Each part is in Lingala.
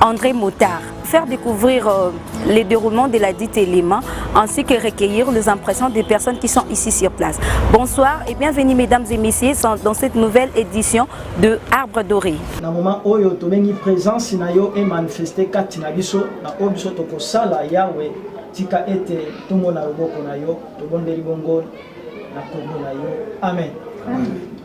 André Motard. Faire découvrir euh, les déroulements de la dite élément ainsi que recueillir les impressions des personnes qui sont ici sur place. Bonsoir et bienvenue mesdames et messieurs dans cette nouvelle édition de Arbre Doré. Na moment oyo tobengi présence na yo et manifester kati na biso na oyo biso tokosala Yahweh tika ete tomona loboko na yo tobondeli bongo na kombo na yo amen. amen.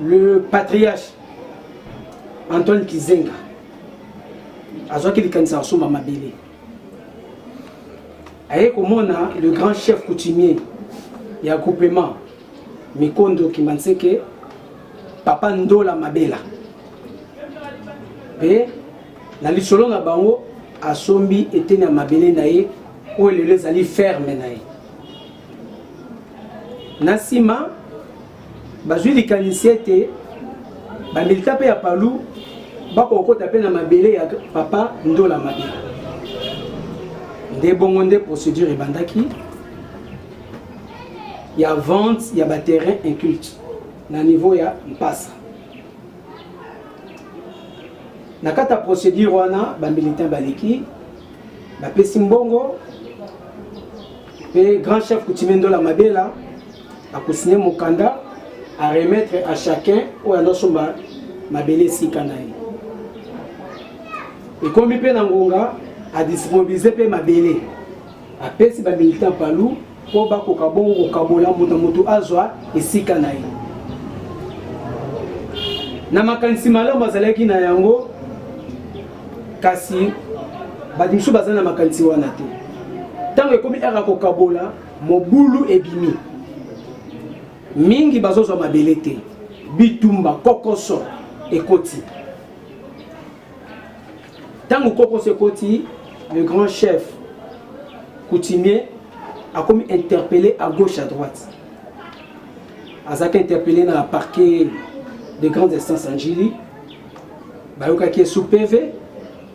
le patriarche antoine kizenga azwaki likanisa ya kosomba mabele aye komona le grand chef coutumier ya groupement mikondo kimanseke papa ndola mabela mpe na lisolo na bango asombi eteni ya mabele na ye oyo lelo ezali ferme na ye na nsima bazwi likanisi ete bamilita mpe ya palu bakokota mpe na mabele ya papa ndola mabe nde bongo nde procédure ebandaki ya vente ya baterrain inculte na niveau ya mpasa na kati ya procédure wana bamilitain baleki bapesi mbongo mpe grand chef coutumier ndola mabela akosigne mokanda a remettre à chacun oyo azosomba mabele esika na ye ekomi mpe na ngonga adisponibilize mpe mabele apesi bamilitant palu mpo bakoka bongo kokabola moto na moto azwa esika na ye na makanisi malamu azalaki na yango kasi bato mosusu bazali na makanisi wana te ntango ekomi aka kokabola Mobulu ebimi. Mingi bazozwa mabele te. Bitumba kokoso ekoti. Tango kokoso ekoti, le grand chef coutumier akomi interpellé à gauche à droite. Azaki interpellé na parquet de grandes instances en Jili. Bayokaki sous PV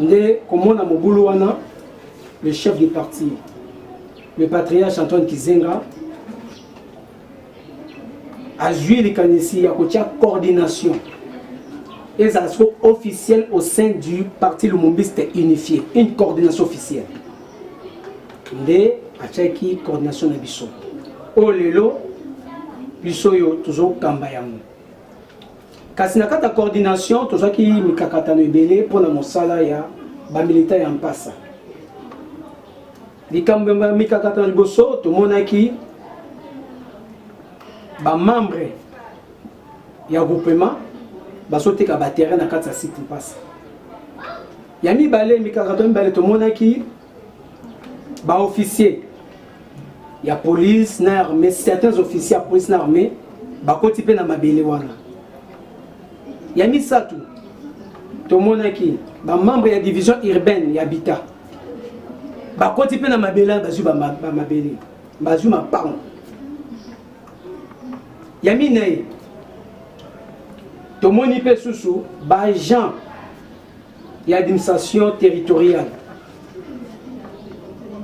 nde komona mobulu wana le chef du parti le patriarche antoine kizenga azwi likanisi ya kotya coordination ezala siko officielle au sein du parti lumumbiste unifié une coordination officielle nde atyaki coordination na biso oyo lelo biso oyo tozokamba yango Kasi na kati ya coordination tozwaki mikakatano ebele mpo na mosala ya bamilita ya mpasa. Likambo ya mikakatano liboso tomonaki bamembre ya groupema bazoteka baterrain na kati ya site mpasa. Ya mibale mikakatano mibale tomonaki ba officier ya police na armée certains officiers ya police na armée bakoti mpe na mabele wana ya misato tomonaki bamembre ya division urbaine ya bita bakoti mpe na mabele wana bazwi bamabele bazwi mapango ya minei tomoni mpe susu baagent ya administration territoriale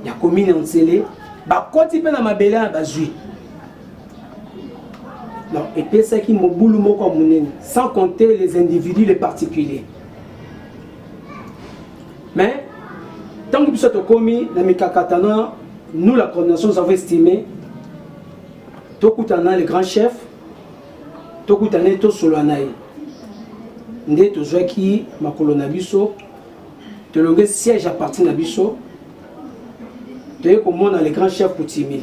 ya commune ya nsele bakoti mpe na mabele ya bazwi donc epesaki mobulu moko ya monene sans compter les individus les particuliers mais ntango biso tokomi na mikakatano nous la coordination nous avons estimé tokutana na le grand chef tokutana ye tosolola na ye nde tozwaki makolo na biso tolonge siège ya parti na biso toye komona le grand chef coutumier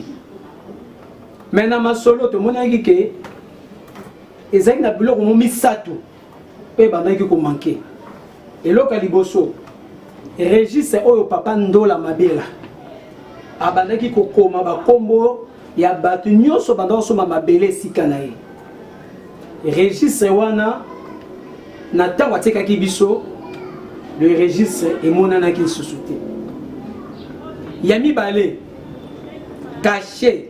me na masolo tomonaki ke ezalaki na biloko mo misato mpe ebandaki komanke eloko ya liboso registre oyo papa ndola mabela abandaki kokoma bakombo ya bato nyonso banda kosomba mabele esika na ye registre wana na ntango atikaki biso le registre emonanaki lisusu te ya mibale kashe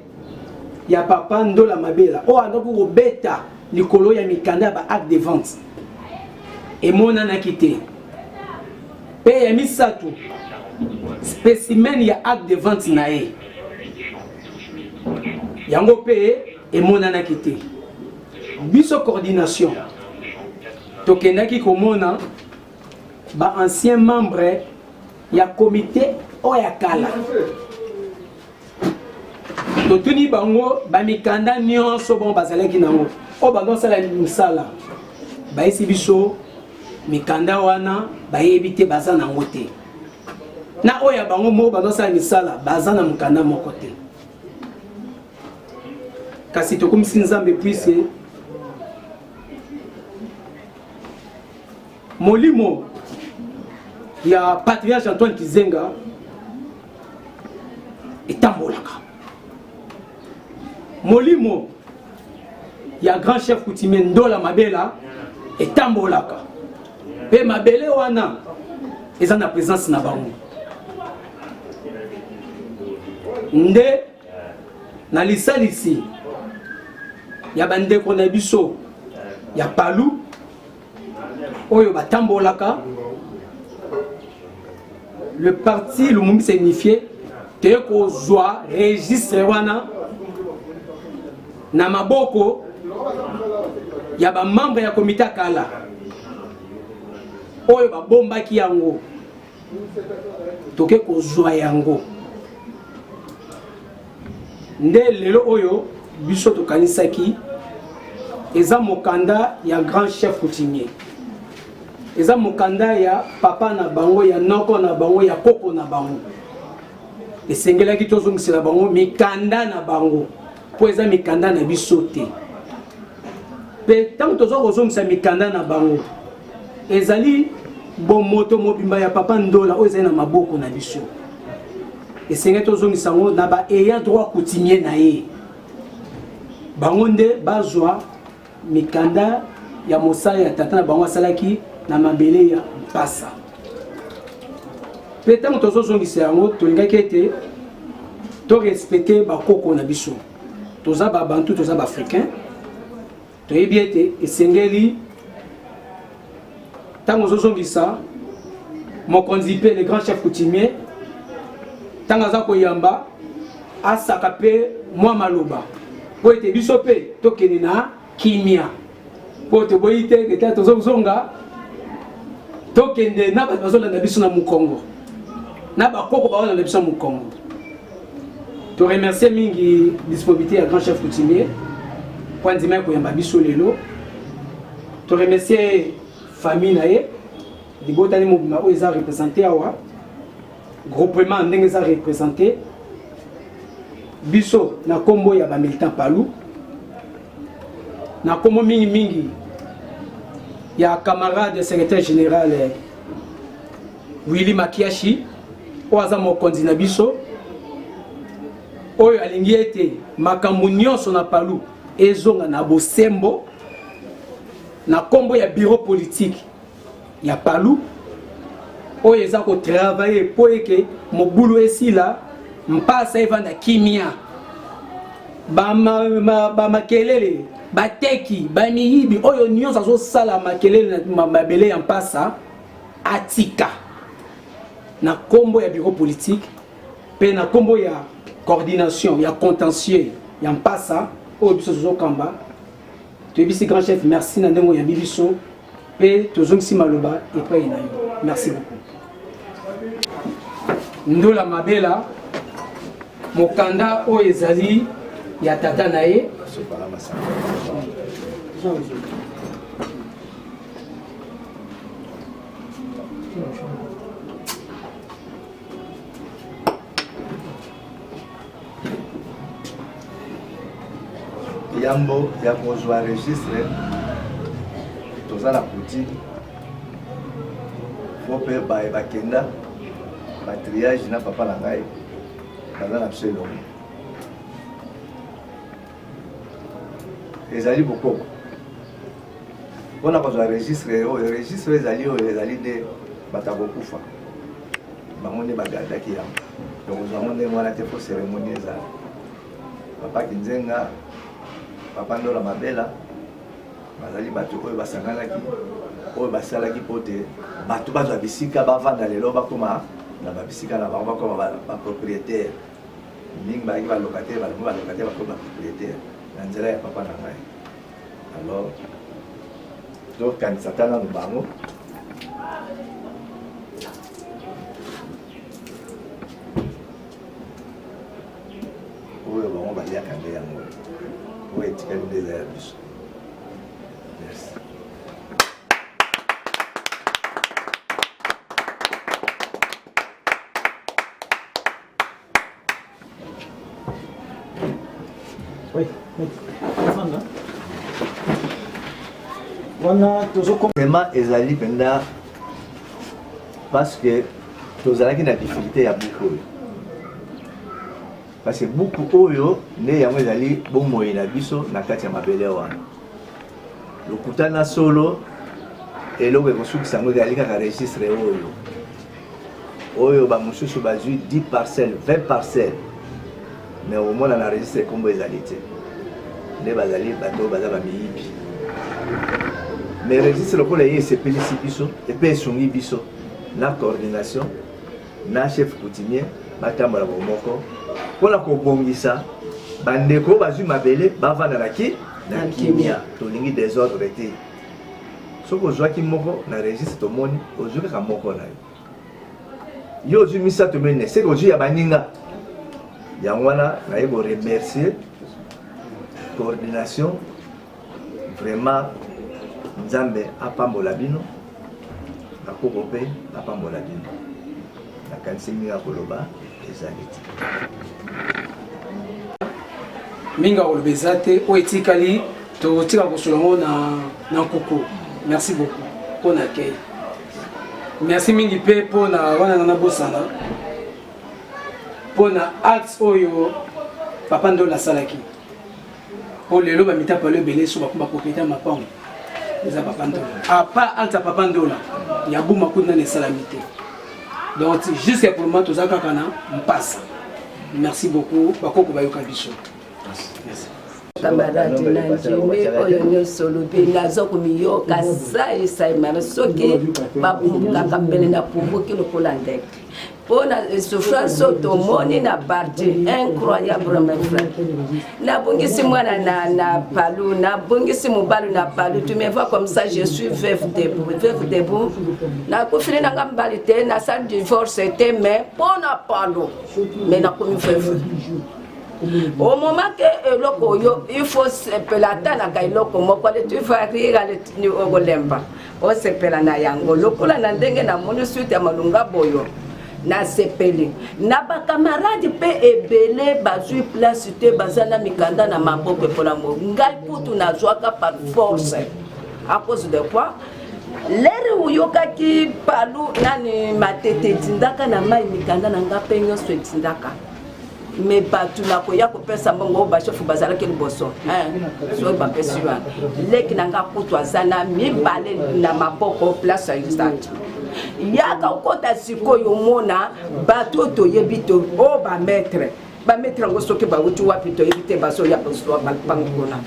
ya papa ndola mabela oyo andaki kobeta likolo ya mikanda ya ba acte de vente emonanaki te mpe ya misato specimen ya acte de vente na ye yango mpe emonanaki te biso coordination tokendaki komona ba ancien membre ya comité oyo ya kala totuni bango bamikanda nyonso bango bazalaki nango oyo bando basala mosala bayesi biso mikanda wana bayebi te baza nango te na oyo ya bango moko bando basala misala baza na mokanda moko te kasi tokumisi nzambe puise molimo ya patriarche antoine kizenga etambolaka molimo ya grand chef coutumier ndola mabela etambolaka mpe mabele wana eza na présence na bango nde na lisalisi ya bandeko na biso ya palu oyo batambolaka le parti lumumbi se unifie toye kozwa registre wana na maboko ya bamembre ya komite ya kala oyo babombaki yango toke kozwa yango nde lelo oyo biso tokanisaki eza mokanda ya grand chef coutumier eza mokanda ya papa na bango ya noko na bango ya koko na bango esengelaki tozongisela bango mikanda na bango mpo eza mikanda na biso te mpe ntango toza kozongisa mikanda na bango ezali bomoto mobimba ya papa ndola oyo ezali na maboko na biso esengeli tozongisa yango na baeya droit coutumier na ye bango nde bazwa Mikanda ya mosala ya tata na bango asalaki na mabele ya mpasa mpe ntango tozozongisa yango tolingaki ete torespecte bakoko na biso toza babantu toza baafricain toyebi ete esengeli ntango ozozongisa mokonzi mpe le grand chef coutumier ntango aza koyamba asaka mpe mwa maloba mpo ete biso mpe tokende na kimia mpo toboyi te ete tozozonga tokende na bato bazolanda biso na mokongo na bakoko baolanda biso na mokongo To remercier mingi disponibilité ya grand chef coutumier mpo andimaki koyamba biso lelo. To remercier famille na ye libota ni mobima oyo eza représente awa groupement ndenge eza représente biso na nkombo ya bamilitant palu na nkombo mingi mingi ya camarade secrétaire général Willy Makiashi oyo aza mokonzi na biso oyo alingi ete makambo nyonso na palu ezonga na bosembo na nkombo ya biro politiki ya palu oyo eza kotravaye mpo eke mobulu esila mpasa evanda kimia bamakelele ba, ba bateki bamiyibi oyo nyonso azosala makelele na mabele ya mpasa atika na kombo ya bureau politique pe na kombo ya coordination ya contentieux ya mpasa oyo biso tozokamba toyebisi grand chef merci na ndenge oyambi biso mpe tozongisi maloba epai na yo merci beaucoup ndola mabela mokanda oyo ezali ya tata na ye yambo ya kozwa registre toza na poutine po mpe baye bakenda batriage na papa na ngai baza na biso elongo ezali bokoko mpo na kozwa registre oyo registre ezali oyo ezali nde bato ya kokufa bango nde bagardaki yango donc ozwa yango ndenge wana te mpo cérémonie ezala papa kinzenga papa ndola mabela bazali bato oyo basanganaki oyo basalaki mpo te bato bazwa bisika bavanda lelo bakoma na babisika na bango bakoma bapropriétaire ba mingi bayaki balocataire balingi balocataire bakoma propriétaire na nzela ya papa na ngai alors tokanisa ta nanu bango oyo bango baliaka nde yango oyo etikali nde eza ya biso merci wana tozokoma ezali mpenza parce que tozalaki na difficulté ya buku oyo parce que buku oyo nde yango ezali bomoi na biso na kati ya mabele wana lokuta na solo eloko ekosukisa yango ezali kaka registre oyo oyo bamosusu bazwi 10 parcelle 20 parcelle mais omona na registre nkombo ezali te nde bazali bato oyo baza bamiyibi mais registre lokola ye esepelisi biso epe esungi biso na coordination na chef coutumier batambola bomoko mpo na kobongisa bandeko bazwi mabele bavanda na ki na kimia tolingi desordre te soki ozwaki moko na registre tomoni ozwi kaka moko na yo yo ozwi misato mine seke ozwi ya baninga yango wana naye koremercier coordination vraiment nzambe apambola bino na koko mpe apambola bino nakanisi mingi ya koloba ezali te mingi ya koloba eza te oyo etikali totika kosolo yango na nkuku merci beaucoup mpo na kei merci mingi mpe mpo na wana nga nabosana mpo na acte oyo papa ndolo asalaki po lelo bamitapalo ebele so bakoma kopeta mapango eza papa ndola apa alta papa ndola ya buma kutu nani esalami te donc jusqu'à pour le moment toza kaka na mpasa merci beaucoup bakoko bayoka biso merci kamarade na ndimi oyo nyonso olobi naza komiyoka sai sai mara soki babukaka mbele na pubuki lokola ndeke mpo na souffrance oyo tomoni na parti incroyable mes frère nabungisi mwana na, na palu nabungisi mobali na palu tu me vois comme ça je suis veuve debout veuve debout nakufili na nga mobali te nasali divorce te mais mpo na palu mais nakomi veuve au moment ke eloko oyo il faut sepela ata naka eloko moko ale tu va rire ale okolemba osepela na yango lokola na ndenge namoni suite ya malonga boyo nasepeli na bakamarade mpe ebele bazwi place te baza na mikanda na maboko mpona mo ngai kutu nazwaka par force à cause de quoi lere oyokaki palu nani matete etindaka na mai mikanda na ngai mpe nyonso etindaka me bato na koya kopesa mbongo bashefu bazalaki liboso soki bapesi wana leki na nga kutu aza na mibale na maboko place ya usage yaka okota sikoyo omona bato oyo toyebi to o oh, bametre bametre yango soki bauti wapi toyebi te bazoya kozwa bango kuna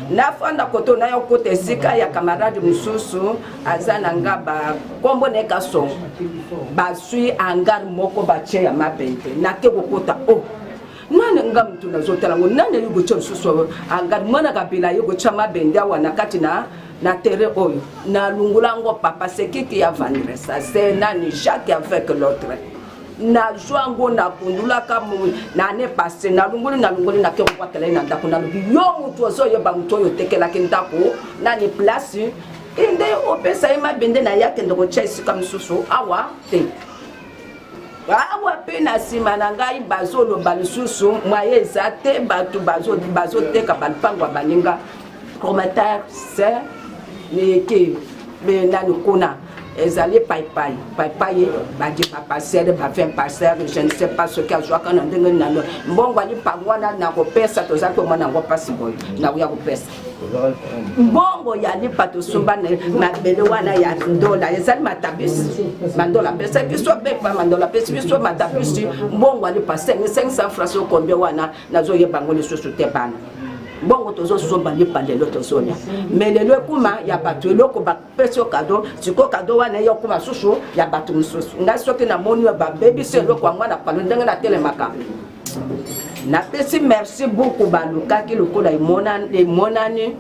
nafanda koto nayo okota esika ya kamarade mosusu aza na nga bakombo na ye kasongo baswi angare moko batye ya mabende nake kokota o oh. nani nga motu nazotala ngo nani ayi kotya lisusu angare mwana kabila ayi kotya mabende awa na kati na na terrain oyo nalungola yango papa sekiki ya vandresa se nani jacques avec l'autre nazwa yango nakundulaka na ne passe nalongoli nalongoli nake kokwakela ye na ndako nalobi yo motu ozoyeba motu oyo otekelaki ndako nani place ende opesa ye mabende na ye akende kotya esika mosusu awa te awa mpe na nsima na ngai bazoloba lisusu mwaye eza te bato bazoteka balupango ya baninga commentaire se neke nani kuna ezali paipai paipai badi baparcele ba 20 parcele je ne sais pas soki azwaka na ndenge nano mbongo ali mpango wana nakopesa tozali komona yango mpasi boye nakoya kopesa mbongo ya lipa tosomba na mabele wana ya ndola ezali matabisi mandola apesa biso bepa mandola apesi biso matabisi mbongo ya lipa 500 francs okombe wana nazoyeba yango lisusu te bana mbongo tozosomba lipa lelo tozolia me lelo ekuma ya bato eloko pesi yo kado sikoyo kado wana ye okoma susu ya bato mosusu ngai soki namoni yo babebisi eloko yango na palo ndenge natelemaka napesi merci buku balukaki lokola emonani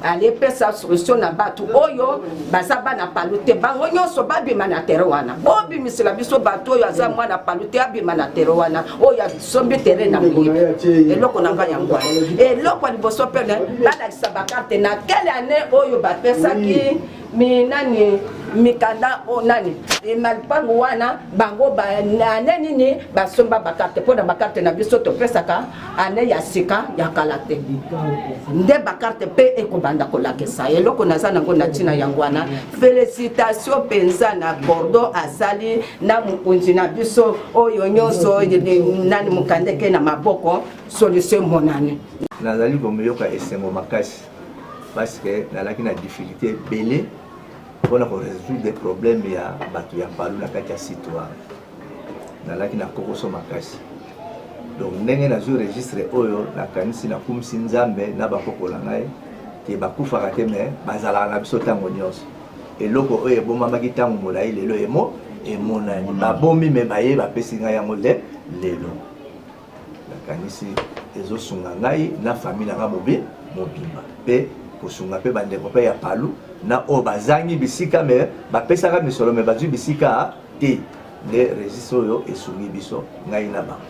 alipesa solution na bato oyo baza bana palu te bango nyonso babima na tere wana bobimisela biso bato oyo aza mwana palu te abima na tere wana oyo sombi terrain na eloko na ngai yango eloko ya liboso pene balakisa bakarte na kele ane oyo bapesaki minani mikanda o nani e, malipangu wana bango ane nini basomba bakarte mpo na bakarte na biso topesaka ane ya sika ya kala te nde bakarte mpe ekobanda kolakisa eloko naza nango na ntina yango wana felicitation mpenza na bordeaux asali na mokonzi na biso oyo nyonso nani mokandeke na maboko solution monani nazali komiyoka esengo makasi parce que nalaki na difficulté ebele mpona koresoudre des problèmes ya bato ya palu na kati ya site wana nalaki na kokoso makasi donc ndenge nazwi registre oyo nakanisi nakumisi nzambe na bakoko na ngai te bakufaka te me bazalaka na biso ntango nyonso eloko oyo ebomamaki ntango molai lelo emo emonani babomi me baye bapesi ngai yango le lelo nakanisi ezosunga ngai na famille na ngai mobi mobimba mpe kosunga mpe bandeko mpe ya palu na oyo bazangi bisika me bapesaka misolo me bazwi bisika te nde registre oyo esungi biso ngai na bango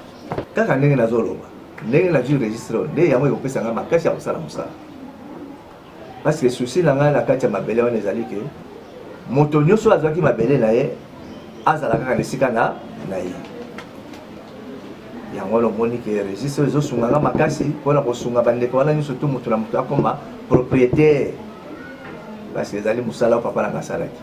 kaka ndenge nazoloba ndenge nazwi registre oyo nde yango ekopesa ngai makasi ya kosala mosala Parce que souci na ngai na kati ya mabele wana ezali ke moto nyonso azwaki mabele na ye azala kaka na esika na na ye yango wana omoni ke registre oyo ezosunga nga makasi mpo na kosunga bandeko wana nyonso tu moto na moto akoma propriétaire parce que ezali mosala oyo papa nanga asalaki